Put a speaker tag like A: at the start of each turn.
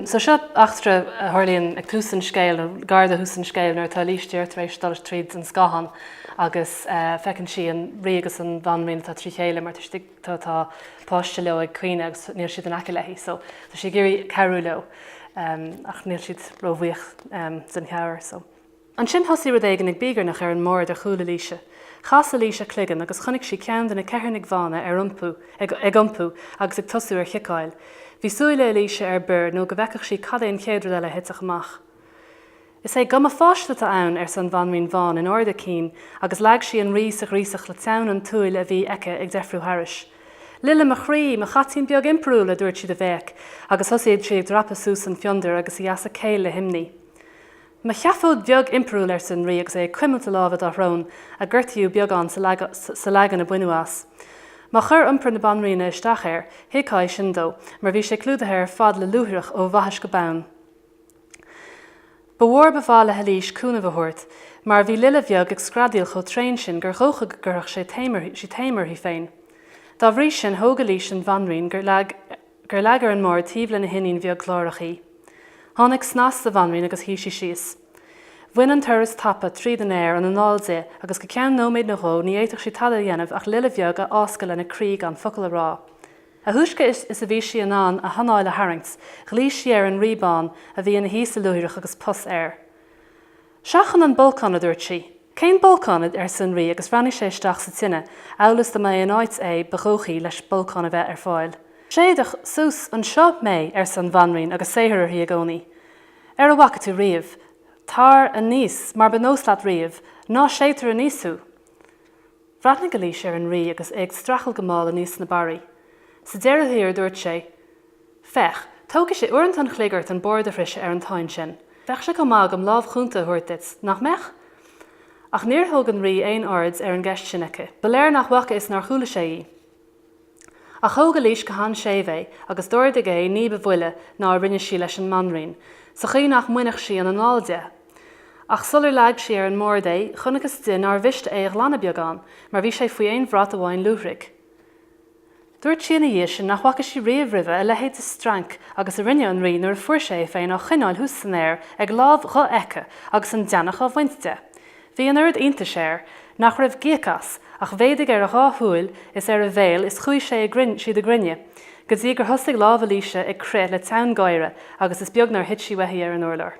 A: So seo eachtra a tharlaíonn ag tús an scéil, nó gar do thús an scéil, nuair atá Eilís tar éis dul tríd an scáthán agus feiceann sí an Rí agus an Bhanríon atá trí chéile mar tá páiste leo ag caoineadh agus níl siad in aice léi. So tá sí ag iarraidh cabhrú leo ach níl siad ró-bhuíoch den chabhair. So. Ansin thosaigh rud éigin ag bíogarnach ar an mbord ar chúl Eilíse. Chas Eilís a cloigeann agus chonaic sí ceann de na ceithearnaigh bhána ar iompú, ag, ag iompú agus ag tosú ar chiceáil. Bhí súile Eilíse ar bior nó go bhfeicfeadh sí cad é an chéad rud eile a thitfeadh amach. Is é guth mo pháiste atá ann, arsa an bhanríon bhán in ard a cinn agus leag sí an rí sa ghríosach le teann an tsiúil a bhí aici ag deifriú thairis. Lile mo chroí, mo chaitín beag impiriúil, a dúirt sí de bhéic agus thosaigh sí ag dreapadh suas an fiondar agus í as a céill le himní. Mo sheafóid bheag impiriúil, arsa an Rí agus é ag cuimilt a láimhe dá shrón, a gortaíodh beagán sa leagan a baineadh as. Má chuir iompar na Banríona isteach air, thuigfeá é sin dó, mar bhí sé clúdaithe ar fad le luaithreach ó bhaithis go bonn. Ba mhór ab áil le hEilís cúnamh a thabhairt, mar bhí Lile bheag ag screadaíl chomh tréan sin gur dhócha go gcuirfeadh sí taom uirthi féin. Dá bhrí sin, thóg Eilís an Bhanríon gur leag a. gur leag ar an mbord taobh lena hiníon bheag ghlórach í. Tháinig snas sa bhanríon agus shuigh sí síos. Bhain an turas tapa tríd an aer an anáil di agus go ceann nóiméid nó dhó ní fhéadfadh sí tada a dhéanamh ach lile bheag a fháscadh lena croí gan focal a rá. A thúisce is a bhí sí in ann a hanáil a tharraingt, ghlaoigh sí ar an Rí Bán, a bhí ina shuí sa luaithreach agus pus air. Seachain an bolcán, a dúirt sí. Cén bolcán? arsa an Rí agus bhreathnaigh sé isteach sa tine, amhail is dá mba é an áit é ba dhóichí leis bolcán a bheith ar fáil. Séideadh suas anseo mé, arsa an Bhanríon agus saothar uirthi i gcónaí. Ar a bhfaca tú riamh? Tar aníos, mar ba nós leat riamh, ná séidtear aníos thú! Bhreathnaigh Eilís ar an Rí agus é ag streachailt go mall aníos na barraí. Sa deireadh thiar, dúirt sé, Féach, tógfaidh sé uaireanta an chloig ort an bord a shroiseadh ar an táin sin. Bheadh sé chomh maith agam lámh chúnta a thabhairt duit, nach mbeadh? Ach níor thug an Rí aon aird ar an gceist sin aici. Ba léir nach bhfaca is nár chuala sé í. Ach thóg Eilís go han-séimh é agus d'ardaigh é ní ba mhoille ná a rinne sí leis an mbanríon, sa chaoi nach mbainfeadh sí an anáil de. Ach sular leag sí ar an mbord é, chonacthas di nár mhiste é a ghlanadh beagán, mar bhí sé faoi aon bhrat amháin luaithrigh. Dúirt sí ina dhiaidh sin nach bhfaca sí riamh roimhe a leithéid de strainc agus a rinne an rí nuair a fuair sé é féin á choinneáil thuas san aer ag láimh dhofheicthe agus an deannach á bhaint de. Bhí an oiread iontais air nach raibh gíog as ach mhéadaigh ar a dhá shúil is ar a bhéal is chuaigh sé siad i gcruinne go dtí gur thosaigh lámh Eilíse ag crith le teann gáire agus is beag nár thit sí uaithi ar an urlár.